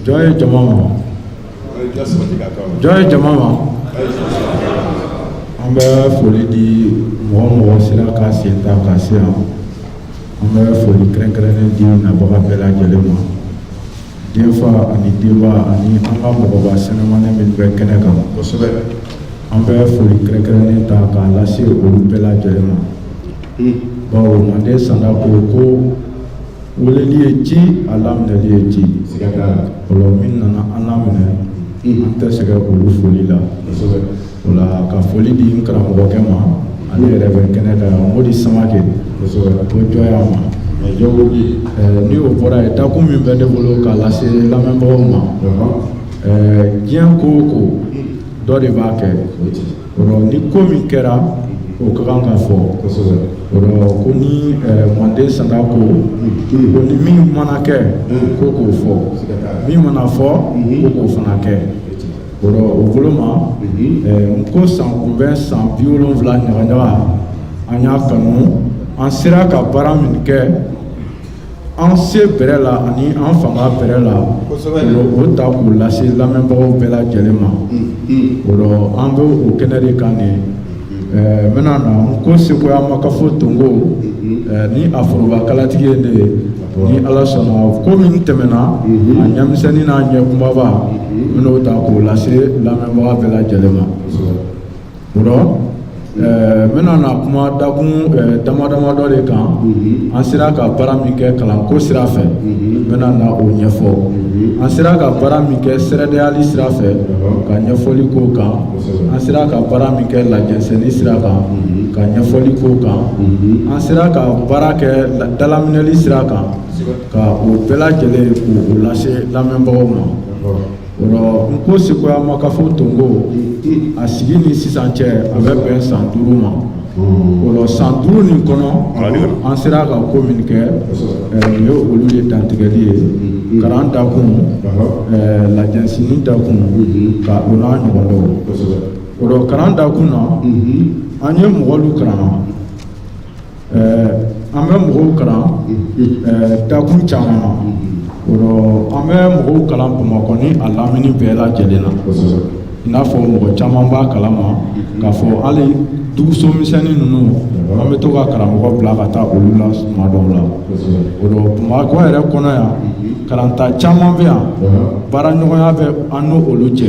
jɔ ye jama ma jɔ ye jama ma an bɛ foli di mɔgɔ mɔgɔ sera ka sen ta ka se yan an bɛ foli kɛrɛnkɛrɛnnen di nabaga bɛɛ lajɛlen ma denfa ani denba ani an ka mɔgɔba sɛnɛmani min bɛ kɛnɛ kan an bɛ foli kɛrɛnkɛrɛnnen ta k'a lase olu bɛɛ lajɛlen ma bawo manden sanda ko ko Weleli ye ci a laminɛli ye ci o rɔ min nana an laminɛ an tɛ sɛgɛn olu foli la o la ka foli di n karamɔgɔkɛ ma ale yɛrɛ bɛ kɛnɛ da Modi Samakɛ ko cogoya ma ni o bɔra yen dakun min bɛ ne bolo k'a lase lamɛnbagaw ma diɲɛ ko o ko dɔ de b'a kɛ ni ko min kɛra o ka kan ka fɔ o rɔ ko ni manden sanda ko ko ni min mana kɛ ko k'o fɔ min mana fɔ ko k'o fana kɛ o rɔ o bolo ma n ko sankunbɛn san biwolonfila ɲagaɲaga an y'a kanu an sera ka baara min kɛ an se bɛrɛ la ani an fanga bɛrɛ la o ta k'o lase lamɛnbagaw bɛɛ lajɛlen ma o rɔ an bɛ o kɛnɛ de kan de n bɛna na n ko sekoya makafo tonko ni a foroba kalatigi ye ne ye ni ala sɔnna ko min tɛmɛna a ɲɛmisɛnnin n'a ɲɛkunbaba n bɛn'o ta k'o lase lamɛnbaga bɛɛ lajɛlen ma n bɛna na kuma dakun dama dama dɔ de kan an sera ka baara min kɛ kalanko sira fɛ n bɛna na o ɲɛfɔ an sera ka baara min kɛ sɛrɛdeyali sira fɛ ka ɲɛfɔli k'o kan an sera ka baara min kɛ lajɛnsɛnni sira kan ka ɲɛfɔli k'o kan an sera ka baara kɛ dalaminɛli sira kan ka o bɛɛ lajɛlen k'o lase lamɛnbagaw ma n ko sekoya makafo tonko a sigi ni sisan cɛ a bɛ bɛn san duuru ma o rɔ san duuru nin kɔnɔ an sera ka ko min kɛ nin ye olu ye dantigɛli ye kalan dakun lajɛnsɛnni dakun ka o n'a ɲɔgɔn dɔw o rɔ kalan dakun na an ye mɔgɔlu kalan an bɛ mɔgɔw kalan dakun caman na o rɔ an bɛ mɔgɔw kalan bamakɔ ni a lamini bɛɛ lajɛlen na i n'a fɔ mɔgɔ caman b'a kalama k'a fɔ hali duguso misɛnnin ninnu an bɛ to ka karamɔgɔ bila ka taa olu la tuma dɔw la o rɔ bamakɔ yɛrɛ kɔnɔ yan kalanta caman bɛ yan baaraɲɔgɔnya bɛ an n'olu cɛ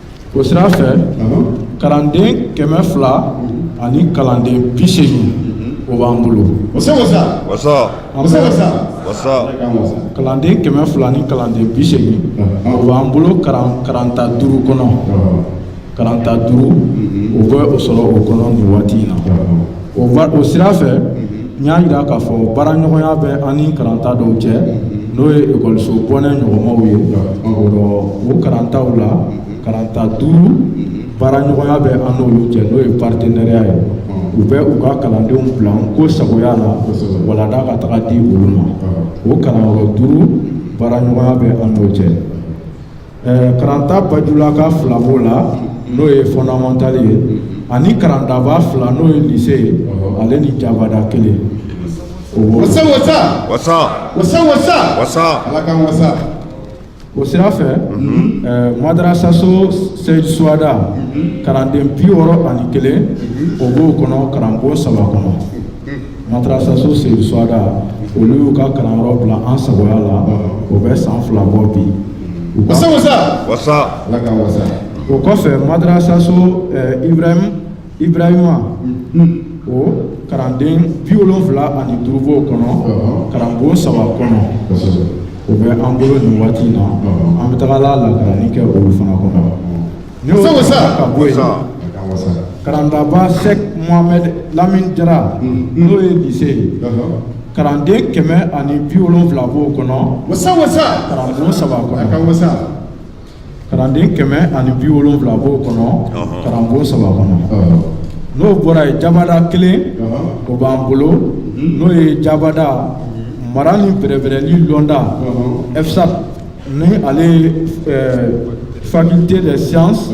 o sira fɛ kalanden kɛmɛ fila ani kalanden bi seegin o b'an bolo kalanden kɛmɛ fila ni kalanden bi seegin o b'an bolo karanta duuru kɔnɔ karanta duuru o bɛ o sɔrɔ o kɔnɔ nin waati in na o o sira fɛ n y'a jira k'a fɔ baaraɲɔgɔnya bɛ an ni karanta dɔw cɛ n'o ye ekɔliso bɔnɛ ɲɔgɔnmaw ye o karantaw la karanta duuru baaraɲɔgɔnya bɛ an n'olu cɛ n'o ye partenariat ye u bɛ u ka kalandenw bila nko sagoya la walanda ka taga di olu ma o kalanyɔrɔ duuru baaraɲɔgɔnya bɛ an n'o cɛ Ɛɛ karanta bajulaka fila b'o la n'o ye fondamental ye ani karantaba fila n'o ye lycée ye ale ni jabada kelen o sira fɛ madrasaso seyidu suwada kalanden bi wɔɔrɔ ani kelen o b'o kɔnɔ karanbon saba kɔnɔ Madrasaso seyidu suwada olu y'u ka kalanyɔrɔ bila an sagoya la o bɛ san fila bɔ bi o kɔfɛ madrasaso ibrahima o kalanden bi wolonwula ani duuru b'o kɔnɔ karanbon saba kɔnɔ o bɛ an bolo nin waati in na an bɛ taga la lakaranni kɛ olu fana kɔnɔ karantaba sɛki mohamɛdi lamini jara n'o ye lycée ye kalanden kɛmɛ ani bi wolonwula b'o kɔnɔ kalanden kɛmɛ ani bi wolonwula b'o kɔnɔ karanbon saba kɔnɔ n'o bɔra yen jabada kelen o b'an bolo n'o ye jabada mara ni bɛrɛbɛrɛli lɔnda FSAP Ni ale ye faculté des sciences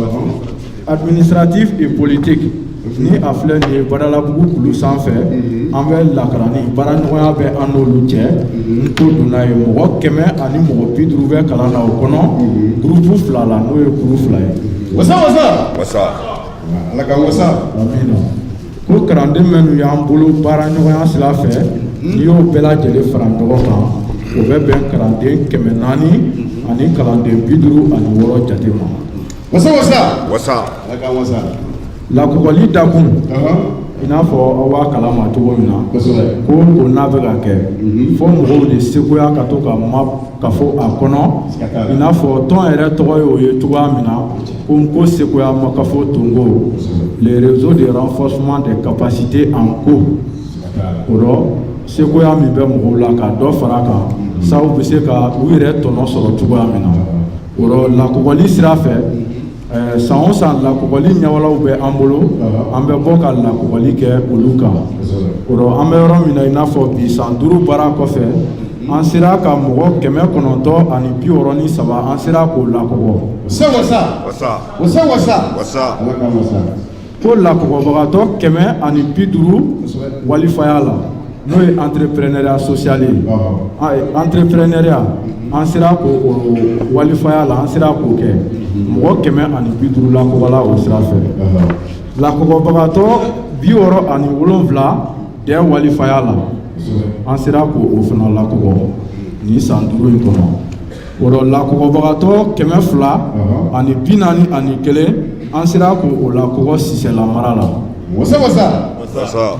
administratives et politiques ni a filɛ nin ye badalabugu kulu sanfɛ mhm. an bɛ lakaranni baaraɲɔgɔnya bɛ an n'olu cɛ mhm. nko donna yen mɔgɔ kɛmɛ ani mɔgɔ bi duuru bɛ kalan na o kɔnɔ mhm. gurupu fila la n'o ye kulu fila ye wasa wasa wasa ala ka wasa Ko kalanden minnu y'an bolo baaraɲɔgɔnya sira fɛ n'i y'o bɛɛ lajɛlen fara ɲɔgɔn kan o bɛ bɛn kalanden kɛmɛ naani ani kalanden bi duuru ani wɔɔrɔ jate ma wasa wasa wasa ala k'an wasa lakɔgɔli dakun i n'a fɔ aw b'a kalama cogo min na ko ko n'a bɛ ka kɛ mhm. fo mɔgɔw de sekoya ka to ka ma ka fɔ a kɔnɔ i n'a fɔ tɔn yɛrɛ tɔgɔ ye o ye cogoya min na Ko n ko sekoya makafo tongo le réseau de renforcement des capacités en n ko o rɔ sekoya min bɛ mɔgɔw la ka dɔ fara a kan sabu bɛ se ka u yɛrɛ tɔnɔ sɔrɔ cogoya min na o rɔ lakɔgɔli sira fɛ eh, san o san lakɔgɔli ɲɛwalaw bɛ an bolo an bɛ bɔ ka lakɔgɔli kɛ olu kan o rɔ an bɛ yɔrɔ min na i n'a fɔ bi san duuru baara kɔfɛ an sera ka mɔgɔ kɛmɛ kɔnɔntɔn ani bi wɔɔrɔ ni saba an sera k'o lakɔgɔ ko lakɔgɔbagatɔ kɛmɛ ani bi duuru walifaya la n'o ye entrepreneuriat social ye entrepreneuriat an sera k'o walifaya la an sera k'o kɛ mɔgɔ kɛmɛ ani bi duuru lakɔgɔla o sira fɛ lakɔgɔbagatɔ bi wɔɔrɔ ani wolonwula Dɛ walifaya la an sera k'o fana lakɔgɔ nin san duuru in kɔnɔ o rɔ lakɔgɔbagatɔ kɛmɛ fila ani bi naani ani kelen an sera k'o lakɔgɔ sisɛlamara la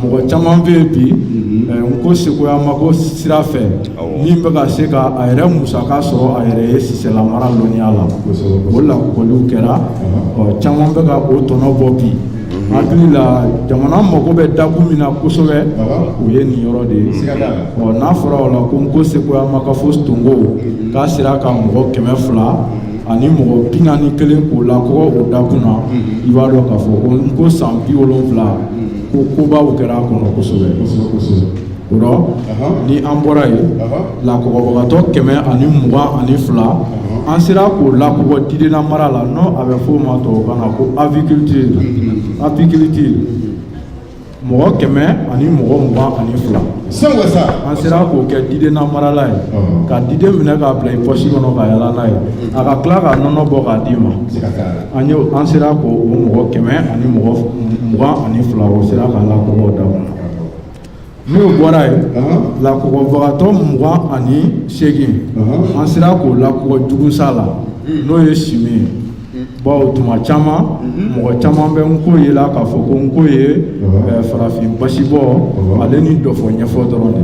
mɔgɔ caman bɛ yen bi mhm. eh, n ko sekoya ma ko sira fɛ min bɛ ka se ka a yɛrɛ musaka sɔrɔ a yɛrɛ ye sisɛlamara lɔnniya la o lakɔgɔliw kɛra caman bɛ ka o tɔnɔ bɔ bi hakili la jamana mago bɛ dakun min na kosɛbɛ o ye nin yɔrɔ de ye ɔ n'a fɔra o la ko n ko sekoya makafo tongo k'a sera ka mɔgɔ kɛmɛ fila ani mɔgɔ bi naani ni kelen k'o lakɔgɔ o dakun na i b'a dɔn k'a fɔ ko n ko san bi wolonwula ko kobaw kɛra a kɔnɔ kosɛbɛ ni an bɔra yen lakɔgɔbagatɔ kɛmɛ ani mugan ani fila an sera k'o lakɔgɔ didennamara la n'o a bɛ fɔ o ma tɔw kan na ko apiculture apiculture mɔgɔ kɛmɛ ani mɔgɔ mugan ani fila an sera k'o kɛ didennamarala ye ka diden minɛ k'a bila i pɔsi kɔnɔ ka yala n'a ye a ka tila ka nɔnɔ bɔ k'a d'i ma an an sera k'o mɔgɔ kɛmɛ ani mɔgɔ mugan ani fila o sera k'a lakɔgɔ da N'o bɔra yen lakɔgɔbagatɔ mugan ani segin an sera k'o lakɔgɔ jugusa la n'o ye chimie ye bawo tuma caman mɔgɔ caman bɛ n ko ye la k'a fɔ ko n ko ye farafin basibɔ ale ni dɔfɔ ɲɛfɔ dɔrɔn de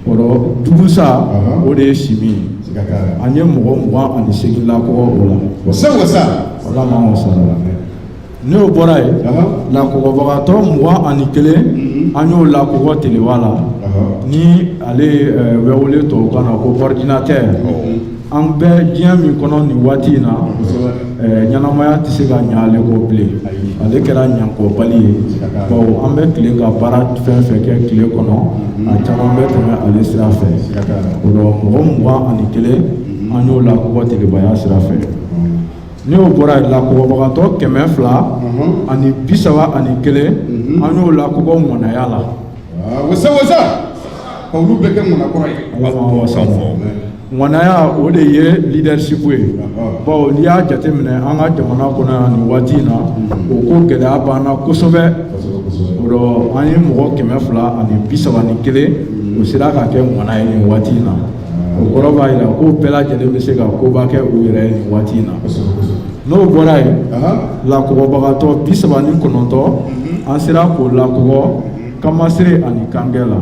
o rɔ jugusa o de ye chimie ye an ye mɔgɔ mugan ani segin lakɔgɔ o la N'o bɔra yen lakɔgɔbagatɔ mugan ani kelen an y'o lakɔgɔ teleba la ni ale bɛ wele tɔw kan na ko ordinateur an bɛ diɲɛ min kɔnɔ nin waati in na ɲɛnamaya tɛ se ka ɲa ale kɔ bilen ale kɛra ɲakɔbali ye baw an bɛ tile ka baara fɛn fɛn kɛ tile kɔnɔ a caman bɛ tɛmɛ ale sira fɛ o rɔ mɔgɔ mugan ani kelen an y'o lakɔgɔ telebaya sira fɛ N'o bɔra lakɔgɔbagatɔ kɛmɛ fila ani bi saba ani kelen an y'o lakɔgɔ ŋanaya la olu bɛ kɛ ŋanaya o de ye leadership ye bawo n'i y'a jateminɛ an ka jamana kɔnɔ yan nin waati in na o ko gɛlɛya b'an na kosɛbɛ o rɔ an ye mɔgɔ kɛmɛ fila ani bi saba ni kelen o sera ka kɛ ŋana ye nin waati in na o kɔrɔ b'a jira ko bɛɛ lajɛlen bɛ se ka koba kɛ u yɛrɛ nin waati in na n'o bɔra yen lakɔgɔbagatɔ bi saba ni kɔnɔntɔn mhm. an sera k'o lakɔgɔ mhm. kamasere ani kangɛ la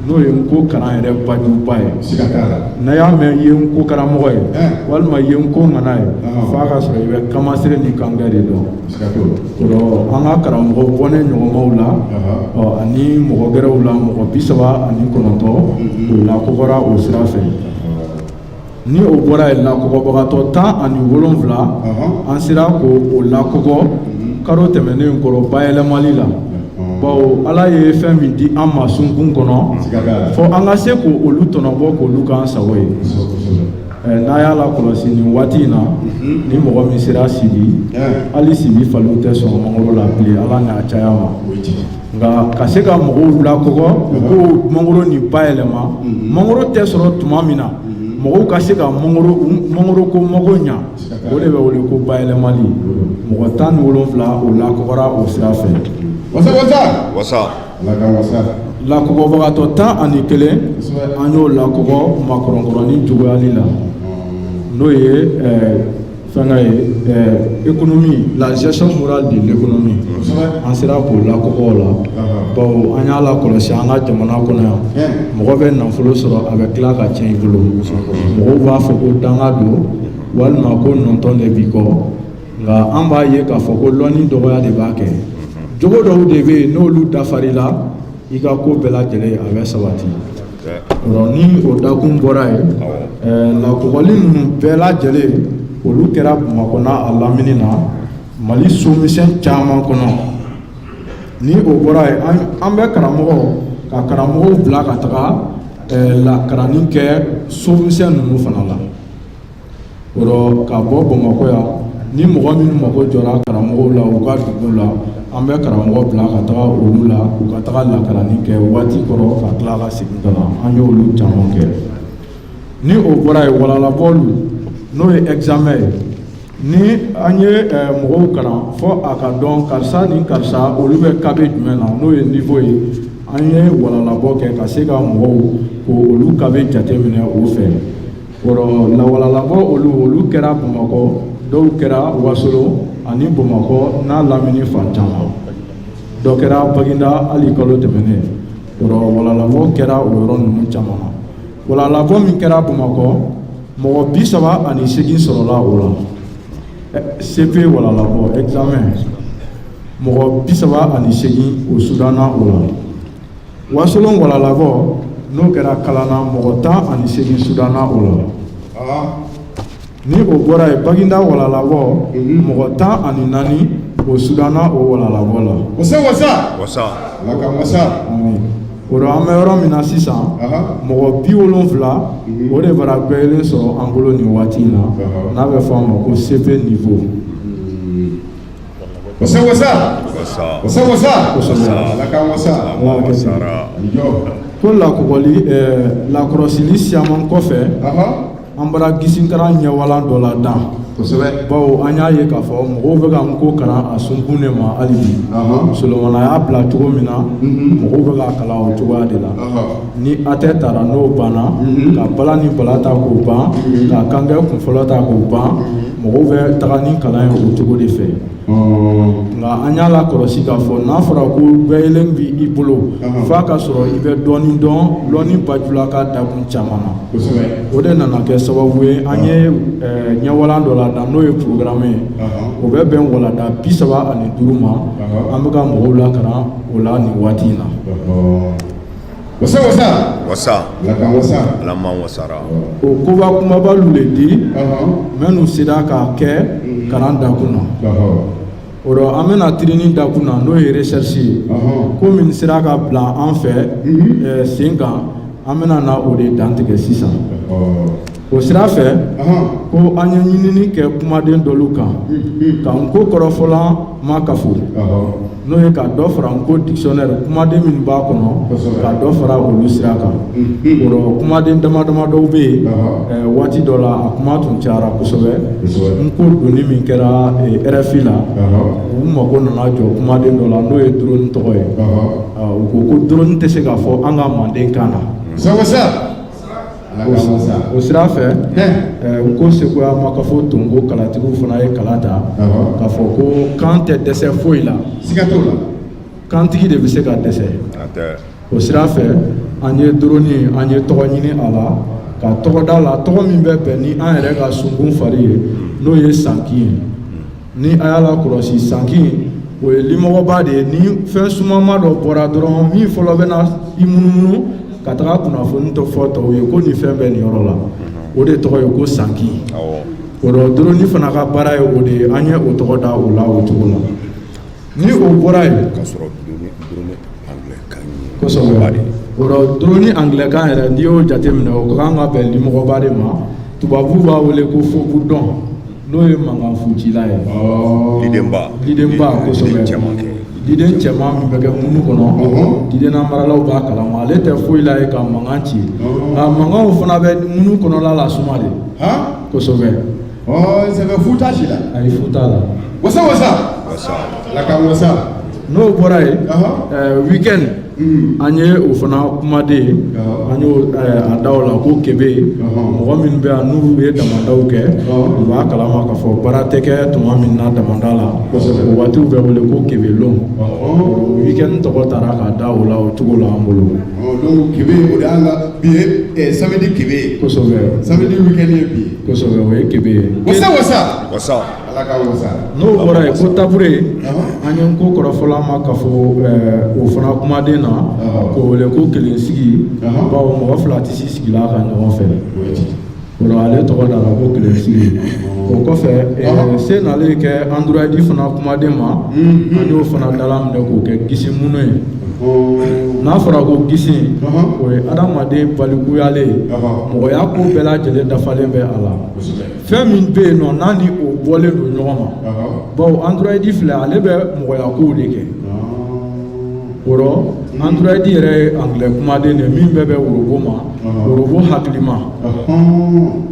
n'o ye n'ko kalan yɛrɛ bajuba ye n'a y'a mɛn i ye n'ko karamɔgɔ ye walima i ye n'ko ŋana ye f'a ka sɔrɔ i bɛ kamasere ni kangɛ de dɔn an ka karamɔgɔ bɔnɛ ɲɔgɔnmaw la ani mɔgɔ gɛrɛw la mɔgɔ bi saba ani kɔnɔntɔn o lakɔgɔra o sira fɛ ni o bɔra yen lakɔgɔbagatɔ tan ani wolonfila an sera ko o lakɔgɔ karo tɛmɛnen kɔrɔ bayɛlɛmali la bawo ala ye fɛn min di an ma sunkun kɔnɔ fɔ an ka se k' olu tɔnɔbɔ k' olu k'an sago ye N'a y'a lakɔlɔsi nin waati in na ni mɔgɔ min sera Sibi hali Sibi faliw tɛ sɔn mangoro la bilen ala n'a caya ma nka ka se ka mɔgɔw lakɔgɔ ko mangoro nin bayɛlɛma mangoro tɛ sɔrɔ tuma min na mɔgɔw ka se ka mangoro ko mago ɲa o de bɛ wele ko bayɛlɛmali mɔgɔ tan ni wolonfila o lakɔgɔra o sira fɛ lakɔgɔbagatɔ tan ani kelen an y'o lakɔgɔ makɔrɔnkɔrɔnin jogoyali la n'o ye fɛngɛ ye ekonomi la gestion morale de l'économie an sera k'o lakɔgɔ la bawo an y'a lakɔlɔsi an ka jamana kɔnɔ yan mɔgɔ bɛ nafolo sɔrɔ a bɛ tila ka tiɲɛ i bolo mɔgɔw b'a fɔ ko danga don walima ko nɔntɔn de b'i kɔ nka an b'a ye k'a fɔ ko lɔnni dɔgɔya de b'a kɛ jogo dɔw de bɛ yen n'olu dafar'i la i ka ko bɛɛ lajɛlen a bɛ sabati ni o dakun bɔra yen lakɔgɔli ninnu bɛɛ lajɛlen olu kɛra bamakɔ n'a a lamini na mali somisɛn caman kɔnɔ ni o bɔra yen an bɛ karamɔgɔ ka karamɔgɔw bila ka taga lakaranni kɛ somisɛn ninnu fana la ka bɔ bamakɔ yan ni mɔgɔ minnu mako jɔra karamɔgɔw la u ka dugu la an bɛ karamɔgɔ bila ka taga olu la u ka taga lakaranni kɛ waati kɔrɔ ka tila ka segin ka na an ye olu caman kɛ ni o bɔra yen walalabɔlu n'o ye examen ye ni an ye eh, mɔgɔw kalan fɔ a ka dɔn karisa ni karisa olu bɛ kabe jumɛn na n'o ye niveau ye an ye walalabɔ kɛ ka se ka mɔgɔw ko olu kabe jateminɛ o fɛ walalabɔ olu olu kɛra bamakɔ dɔw kɛra wasolon ani bamakɔ n'a lamini fan caman dɔ kɛra baginda hali kalo tɛmɛnen walalabɔ kɛra o yɔrɔ ninnu caman na walalabɔ min kɛra bamakɔ mɔgɔ bi saba ani segin sɔrɔla o la cp walalabɔ examen mɔgɔ bi saba ani segin o sudanna o la wasolon walalabɔ n'o kɛra kalana mɔgɔ tan ani seegin sudanna o la ah. ni o bɔra yen baginda walalabɔ mhm. mɔgɔ tan ani naani o sudanna o walalabɔ la wasa wasa wasa ala ka wasa o dɔ an bɛ yɔrɔ min na sisan mɔgɔ bi wolonfila mhm. o de bara gbɛyɛlen sɔrɔ an bolo nin waati in na n'a bɛ fɔ a ma ko cp niveau ko lakɔli lakɔlɔsili siyaman kɔfɛ an bara gisinkaran ɲɛwalan dɔ ladan bawo an y'a ye k'a fɔ mɔgɔw bɛ ka n ko kalan a sunkun de ma hali bi solomana y'a bila cogo min na mɔgɔw bɛ k'a kalan o cogoya de la ni hatɛ tara n'o banna ka bala ni bala ta k'o ban ka kangbɛ kun fɔlɔ ta k'o ban Mɔgɔw bɛ taga ni kalan ye o cogo de fɛ nka an y'a lakɔlɔsi k'a fɔ n'a fɔra ko gbɛyɛlen bɛ i bolo f'a ka sɔrɔ i bɛ dɔɔnin dɔn dɔnni bajula ka dakun caman na o de nana kɛ sababu ye an ye ɲɛwalan dɔ ladan n'o ye programme ye o bɛ bɛn walanda bi saba ani duuru ma an bɛ ka mɔgɔw lakaran o la nin waati in na Wasa wasa wasa wasa wasara o koba kumabalu le di minnu sera k'a kɛ kalan dakun na o dɔ an bɛna tirinni dakun na n'o ye recherche ye ko min sera ka bila an fɛ sen kan an bɛna na o de dantigɛ sisan o sira fɛ ko an ye ɲinini kɛ kumaden dɔlu kan ka n ko kɔrɔfɔlan makafo n'o ye ka dɔ fara n ko dictionnaire kumaden min b'a kɔnɔ ka dɔ fara olu sira kan kumaden dama dama dɔw bɛ yen waati dɔ la a kuma tun cayara kosɛbɛ n ko donni min kɛra rfi la u mago nana jɔ kumaden dɔ la n'o ye drone tɔgɔ ye u ko ko drone tɛ se k'a fɔ an ka manden kan na o sira fɛ n ko sekoya makafo tonko kalatigiw fana ye kala ta k'a fɔ ko kan tɛ dɛsɛ foyi la kantigi de bɛ se ka dɛsɛ o sira fɛ an ye drone an ye tɔgɔ ɲini a la ka tɔgɔ da a la tɔgɔ min bɛ bɛn ni an yɛrɛ ka sunkun fari ye n'o ye sanki ye ni a y'a lakɔlɔsi sanki o ye limɔgɔba de ye ni fɛn sumama dɔ bɔra dɔrɔn min fɔlɔ bɛ na i munumunu ka taga kunnafoni dɔ fɔ tɔw ye ko nin fɛn bɛ nin yɔrɔ la o de tɔgɔ ye ko sanki o la drone fana ka baara ye o de ye an ye o tɔgɔ da o la o cogo la Ni o bɔra yen ka sɔrɔ drone angilɛkan yɛrɛ n'i y'o jate minɛ o kan ka bɛn limɔgɔba de ma tubabu b'a wele ko faux bourdon n'o ye mankan fucila ye didenba kosɛbɛ diden cɛman min bɛ kɛ ŋunu kɔnɔ didennamaralaw b'a kalama ale tɛ foyi la ye ka mankan ci nka mankanw fana bɛ ŋunu kɔnɔla lasuma de kosɛbɛ Oh, c'est le foutage là. Ah, il foutage là. Wasa wasa. Wasa. Ala k'an wasa. N'o bɔra yen, euh, week-end mm. an ye o fana kumaden ye, an y'o euh, a da o la ko kebe, mɔgɔ minnu bɛ yan n'u ye damandaw kɛ, u b'a kalama k'a fɔ baara tɛ kɛ tuma min na damanda la, o waatiw bɛ wele ko kebelon. Week-end tɔgɔ taara k'a da o la o cogo la an bolo. Donc kebe o de y'an ka bi ye samedi kebe ye. Kosɛbɛ. Samedi week-end ye bi ye. kosɛbɛ o ye kebe ye. wasa wasa. wasa. ala ka wasa. n'o bɔra yen ko tabure. an ye n ko kɔrɔfɔlan ma k'a fɔ o fana kumaden na. k'o wele ko kelen sigi. bawo mɔgɔ fila tɛ se sigi l'a kan ɲɔgɔn fɛ. o la ale tɔgɔ dara ko kelen sigi. o kɔfɛ se nalen kɛ android fana kumaden ma. an y'o fana dalaminɛ k'o kɛ gisi munu ye. n'a fɔra ko gisi o ye adamaden balikuyalen ye mɔgɔya ko bɛɛ lajɛlen dafalen bɛ a la fɛn min bɛ yen nɔ n'a ni o bɔlen don ɲɔgɔn ma bawo androyidi filɛ ale bɛ mɔgɔya kow de kɛ o rɔ androyidi yɛrɛ ye angilɛ kumaden de min bɛ bɛn worobo ma worobo hakilima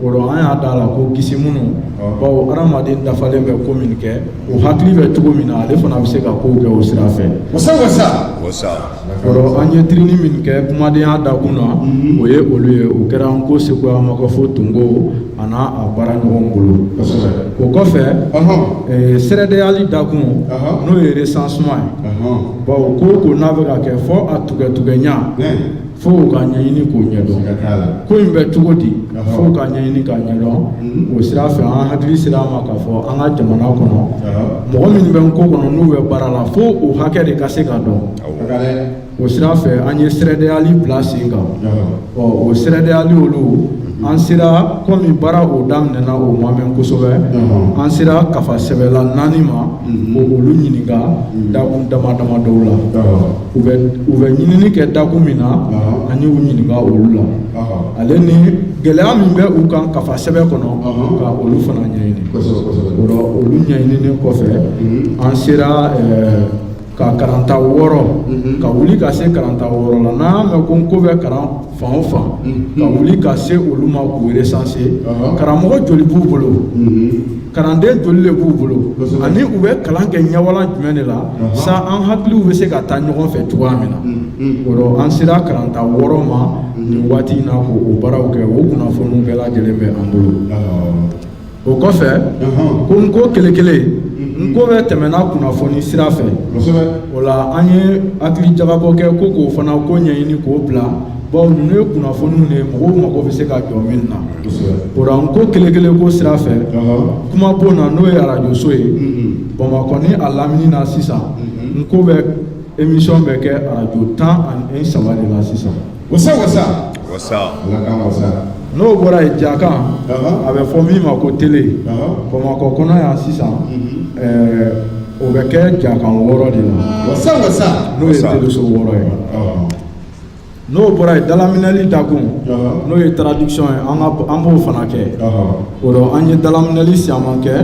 o rɔ an y'a d'a la ko gisi munu bawo adamaden dafalen bɛ ko min kɛ o hakili bɛ cogo min na ale fana bɛ se ka kow kɛ o sira fɛ wasa wasa wasa o rɔ an ye tirini min kɛ kumadenya dakun na o ye olu ye o kɛra n ko sekoya makɔfo tunko a n'a a baara ɲɔgɔn bolo o kɔfɛ eh, sɛrɛdeyali dakun n'o ye recensement ye bawo ko o ko n'a bɛ ka kɛ fo a tugɛtugɛɲa fo k'a ɲɛɲini k'o ɲɛdɔn ko in bɛ cogo di fo k'a ɲɛɲini k'a ɲɛdɔn hmm. o sira fɛ an hakili sera a ma k'a fɔ an ka jamana kɔnɔ mɔgɔ minnu bɛ n ko kɔnɔ n'u bɛ baara la fo o hakɛ de ka se ka dɔn o sira fɛ an ye sɛrɛdeyali bila sen kan ɔ o sɛrɛdeyali o la hmm. an sera komi baara o daminɛna o ma mɛn kosɛbɛ an sera kafasɛbɛla naani ma hmm. ka olu ɲininka dakun dama dama dɔw la u bɛ u bɛ ɲinini kɛ dakun min na an y'u ɲininka olu la ale ni gɛlɛya min bɛ u kan kafa sɛbɛn kɔnɔ ka olu fana ɲɛɲini o la olu ɲɛɲinini kɔfɛ mhm. an sera eh, ka karanta wɔɔrɔ mhm. ka wuli ka se karanta wɔɔrɔ la n'an y'a mɛn ko n ko bɛ kalan fan o fan ka wuli ka se olu ma k'u recenser karamɔgɔ joli b'u bolo kalanden joli de b'u bolo ani u bɛ kalan kɛ ɲɛwalan jumɛn de la sa an hakiliw bɛ se ka taa ɲɔgɔn fɛ cogoya min na o la an sera karanta wɔɔrɔ ma nin waati in na k'o baaraw kɛ o kunnafoniw bɛɛ lajɛlen bɛ an bolo o kɔfɛ ko n ko kelen kelen n ko bɛ tɛmɛna kunnafoni sira fɛ o la an ye hakili jagabɔ kɛ ko k'o fana ko ɲɛɲini k'o bila bawo ninnu ye kunnafoniw de mɔgɔw mago bɛ se ka jɔ min na o la n ko kelen kelen ko sira fɛ kuma bon na n'o ye arajoso ye bamakɔ ni a lamini na sisan n ko bɛ émission bɛ kɛ arajo tan ani saba de la sisan n'o bɔra yen jakan a bɛ fɔ min ma ko tele bamakɔ kɔnɔ yan sisan o bɛ kɛ jakan wɔɔrɔ de la n'o ye teleso wɔɔrɔ ye n'o bɔra yen dalaminɛli dakun n'o ye traduction ye an b'o fana kɛ o la an ye dalaminɛli caman kɛ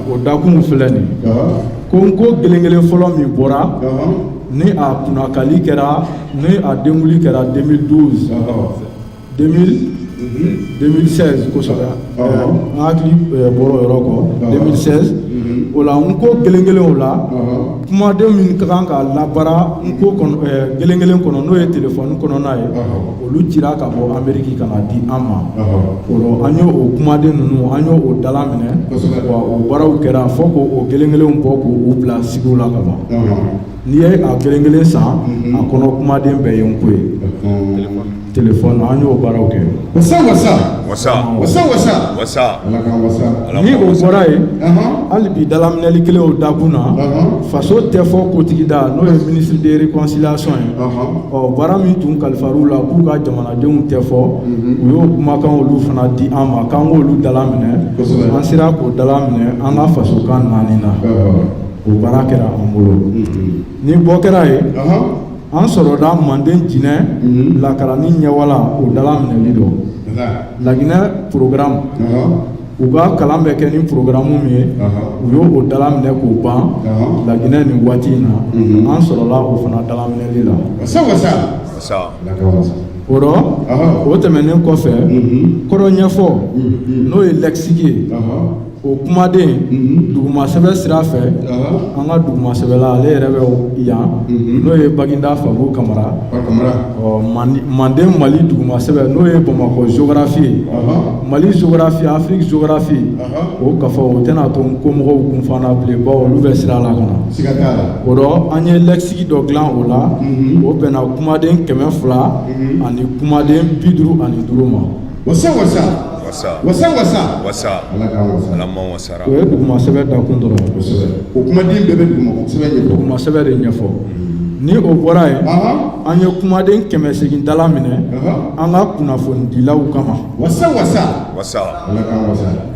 o dakun filɛ nin ko n ko gelengelen fɔlɔ min bɔra ni a kunnakali kɛra Ni a denkunli kɛra deux mille douze deux mille seize kosɛbɛ n hakili bɔra o yɔrɔ kɔ deux mille seize o la n ko gelengelen o la kumaden min ka kan ka labaara n ko gelengelen kɔnɔ n'o ye telefɔni kɔnɔna ye olu cira ka bɔ ameriki ka na di an ma o la an y' o kumaden ninnu an y' o dala minɛ wa o baaraw kɛra fɔ k' o gelengelen bɔ k' u bila suguw la ka ban n'i ye a gelengelen san a kɔnɔ kumaden bɛɛ ye n ko ye téléphone an y'o baaraw kɛ ni o bɔra yen hali bi dalaminɛli kelen o dakun na faso tɛ fɔ kotigida n'o ye ministre de réconciliation ye ɔ baara min tun kalifara u la k'u ka jamanadenw tɛ fɔ u y'o kumakan olu fana di an ma k'an k'olu dala minɛ an sera k'o dala minɛ an ka fasokan naani na O baara kɛra an bolo ni bɔ kɛra yen an sɔrɔda manden jinɛ lakaranni ɲɛwala o dala minɛli dɔ laginɛ programme u ka kalan bɛ kɛ ni programme min ye u y' o dala minɛ k'o ban laginɛ nin waati in na an sɔrɔla o fana dala minɛli la o rɔ o tɛmɛnen kɔfɛ kɔrɔ ɲɛfɔ n'o ye lexique ye o kumaden mhm. dugumasɛbɛ sira fɛ an ka dugumasɛbɛla ale yɛrɛ bɛ yan mhm. n'o ye baginda fabu kamara manden mali dugumasɛbɛ n'o ye bamakɔ zografi ye mali zografi afiriki zografi o kafa o tɛna to n ko mɔgɔw kunfa na bilen bawo olu bɛ sira la ka na o dɔ an ye lɛkisiki dɔ dilan o la mhm. o bɛnna kumaden kɛmɛ fila ani kumaden bi duuru ani duuru ma wasa wasa o ye dugumasɛbɛ dakun dɔrɔn o kumaden bɛɛ bɛ dugumasɛbɛ de ɲɛfɔ ni o bɔra yen an ye kumaden kɛmɛ segin dalaminɛ an ka kunnafonidilaw kama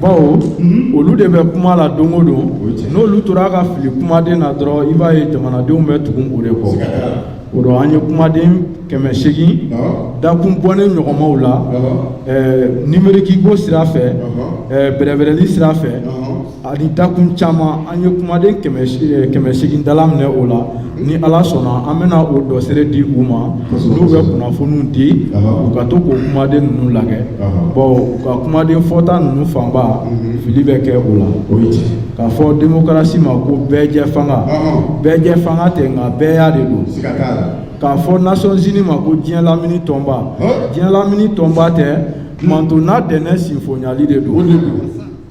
bawo mhm. olu de bɛ kuma la don o don n'olu tora ka fili kumaden na dɔrɔn i b'a ye jamanadenw bɛ tugu u de kɔ o dɔ an ye kumaden kɛmɛ segin dakun bɔnen ɲɔgɔnmaw la nimerikiko sira fɛ bɛrɛbɛrɛli sira fɛ ani dakun caman an ye kumaden kɛmɛ segin dalaminɛ o la ni ala sɔnna an bɛna o dɔsɛrɛ di u ma n'u bɛ kunnafoniw di u ka to k'o kumaden ninnu la bawo u ka kumaden fɔta ninnu fanba mhm. fili bɛ kɛ o la k'a fɔ demokarasi ma ko bɛɛjɛfanga bɛɛjɛfanga tɛ nka bɛɛya de don k'a fɔ nations unies ma ko diɲɛ lamini tɔnba diɲɛ lamini tɔnba tɛ manton nadɛnɛn sinfonyali de don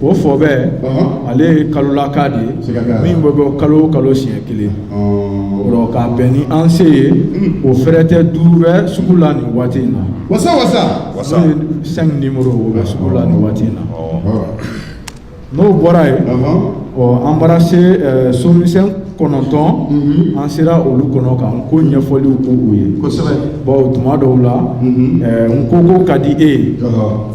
o fɔbɛ ale ye kalolaka de ye min bɛ bɔ kalo o kalo siɲɛ kelen k'a bɛn ni an se ye hmm. o fɛrɛtɛ duuru bɛ sugu la nin waati in na wasa wasa n'o ye cinq numéro o bɛ sugu la nin waati in na n'o bɔra yen ɔ an bara se eh, somisɛn kɔnɔntɔn mhm. an sera olu kɔnɔ ka n ko ɲɛfɔliw k'u ye bawo tuma dɔw la mhm. eh, n ko ko ka di e ye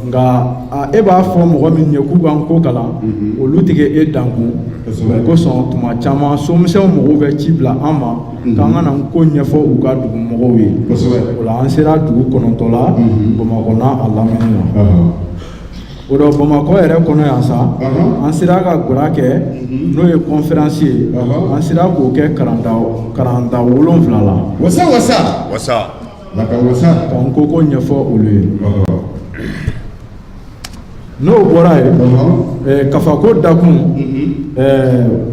nka E b'a fɔ mɔgɔ min ye k'u ka n ko kalan olu tigɛ e dankun o kosɔn tuma caman somisɛnw mɔgɔw bɛ ci bila an ma k'an ka na n ko ɲɛfɔ u ka dugumɔgɔw ye o la an sera dugu kɔnɔntɔ la bamakɔ n'a lamini na o dɔ bamakɔ yɛrɛ kɔnɔ yan sa an sera ka gara kɛ n'o ye kɔnfiransi ye an sera k'o kɛ karan karanta wolon wolonwula la n ko ko ɲɛfɔ olu ye n'o bɔra yen kafako dakun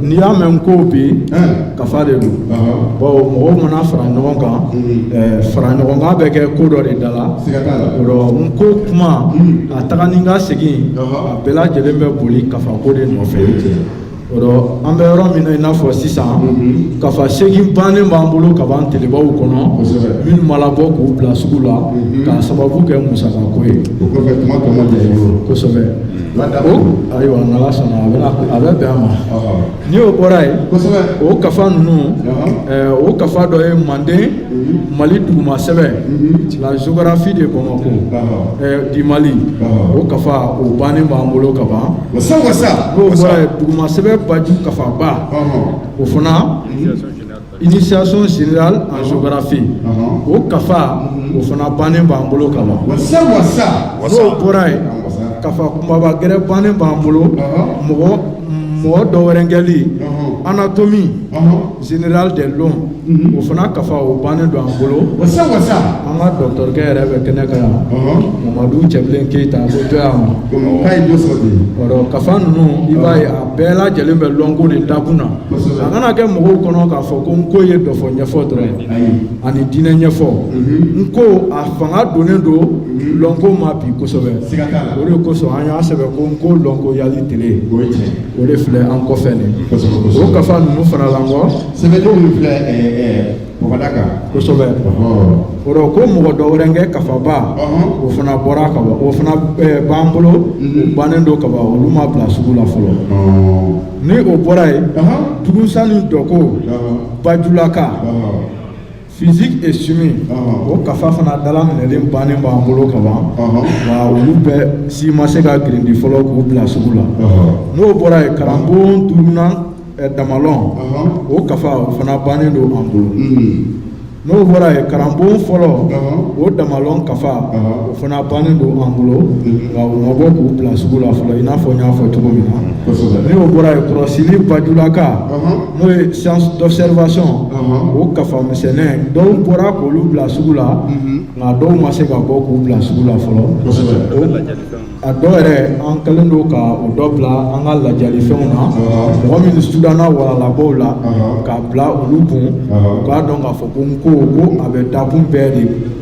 n'i y'a mɛn n ko bi kafa de don bawo mɔgɔw mana fara ɲɔgɔn kan fara ɲɔgɔn kan bɛ kɛ ko dɔ de da la n ko kuma a taga ni ka segin a bɛɛ lajɛlen bɛ boli kafako de nɔfɛ an bɛ yɔrɔ min na i n'a fɔ sisan kafa segin bannen b'an bolo ka ban telebaw kɔnɔ minnu ma labɔ k'u bila sugu la k'a sababu kɛ musaka ko ye kosɛbɛ ayiwa n'Ala sɔnna a bɛ bɛn a ma ni o bɔra yen o kafa ninnu o kafa dɔ ye manden mali duguma sɛbɛn mhm. la géographie de bamako eh, du mali o kafa o bannen b'an bolo ka ban n'o bɔra yen duguma sɛbɛn baju kafaba o fana initiation générale en géographie o kafa mhm. o fana bannen b'an bolo ka ban n'o bɔra yen kafa kunbaba gɛrɛ bannen b'an bolo mɔgɔ dɔwɛrɛnkɛli anatomie Générale de l'homme o fana kafa o bannen don an bolo, wasa wasa, an ka dɔkitɔrikɛ yɛrɛ bɛ kɛnɛ kan yan, ɔhɔ, Mamadu Cɛbilen Keyita a bɛ to yan nɔ, donc k'a ye dɔ sɔrɔ ten, o la kafa ninnu i b'a ye a bɛɛ lajɛlen bɛ lɔnko de dakun na, kosɛbɛ, a kana kɛ mɔgɔw kɔnɔ k'a fɔ ko nko ye dɔfɔ ɲɛfɔ dɔrɔn ye, ayi, ani diinɛ ɲɛfɔ, unhun, nko a fanga donnen don lɔnko ma bi kosɛbɛ, siga t'a la, o de kosɔn an y'a sɛbɛn ko nko lɔnkoyali tele, o ye tiɲɛ ye. o de filɛ an kɔfɛ nin ye kosɛbɛ kosɛbɛ o kafa ninnu fana la nko sɛbɛnni min filɛ ɛɛ eh, ɛɛ eh, bɔgɔda kan kosɛbɛ o rɔ ko mɔgɔ dɔwɛrɛnkɛ kafaba o fana bɔra ka ban o fana eh, b'an bolo mhm. o bannen don ka ban olu ma bila sugu la fɔlɔ ni o bɔra yen dugunsan ni dɔko bajulaka Physique et chimie o kafa fana dalaminɛlen bannen b'an bolo ka ban wa olu bɛɛ si ma se ka girindi fɔlɔ k'u bila sugu la n'o bɔra yen karanbon duurunan eh, damalɔn o kafa o fana bannen don an bolo hmm. n'o bɔra yen karanbon fɔlɔ o damalɔn kafa o fana bannen don an bolo hmm. wa u ma bɔ k'u bila sugu la fɔlɔ i n'a fɔ n y'a fɔ cogo min na n'o bɔra yen kɔrɔsili bajulaka n'o ye science d'observation uh-huh. o kafa misɛnnin dɔw bɔra k'olu bila sugu la mm-hmm. nka dɔw ma se ka bɔ k'u bila sugu la fɔlɔ a dɔw yɛrɛ an kɛlen don ka o dɔ bila an ka lajalifɛnw na uh-huh. mɔgɔ minnu sudanna walalabɔw la uh-huh. k'a bila olu kun u k'a dɔn k'a fɔ ko nko ko a bɛ dakun bɛɛ de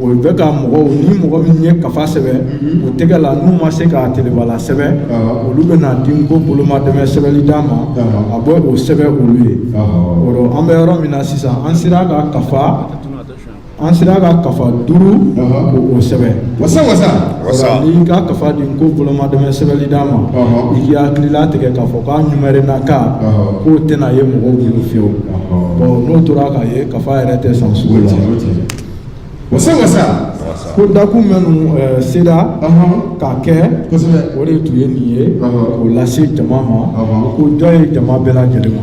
O bɛ ka mɔgɔw ni mɔgɔ min ye kafa sɛbɛn o tɛgɛ la n'u ma se k'a teleba la sɛbɛn olu bɛ n'a di nko bolomadɛmɛ sɛbɛnni da ma a bɛ o sɛbɛn olu ye o rɔ an bɛ yɔrɔ min na sisan an sera ka kafa an sera ka kafa duuru k'o sɛbɛn n'i ka kafa di nko bolomadɛmɛ sɛbɛnni da ma i k'i hakililatigɛ k'a fɔ k'a ɲumarɛnnaka k'o tɛna ye mɔgɔw bolo fewu bon n'o tora ka ye kafa yɛrɛ tɛ san sugu la o se sa ko dakun minnu seda k'a kɛ o de tun ye nin ye k'o lase jama ma ko jɔn ye jama bɛɛ lajɛlen ma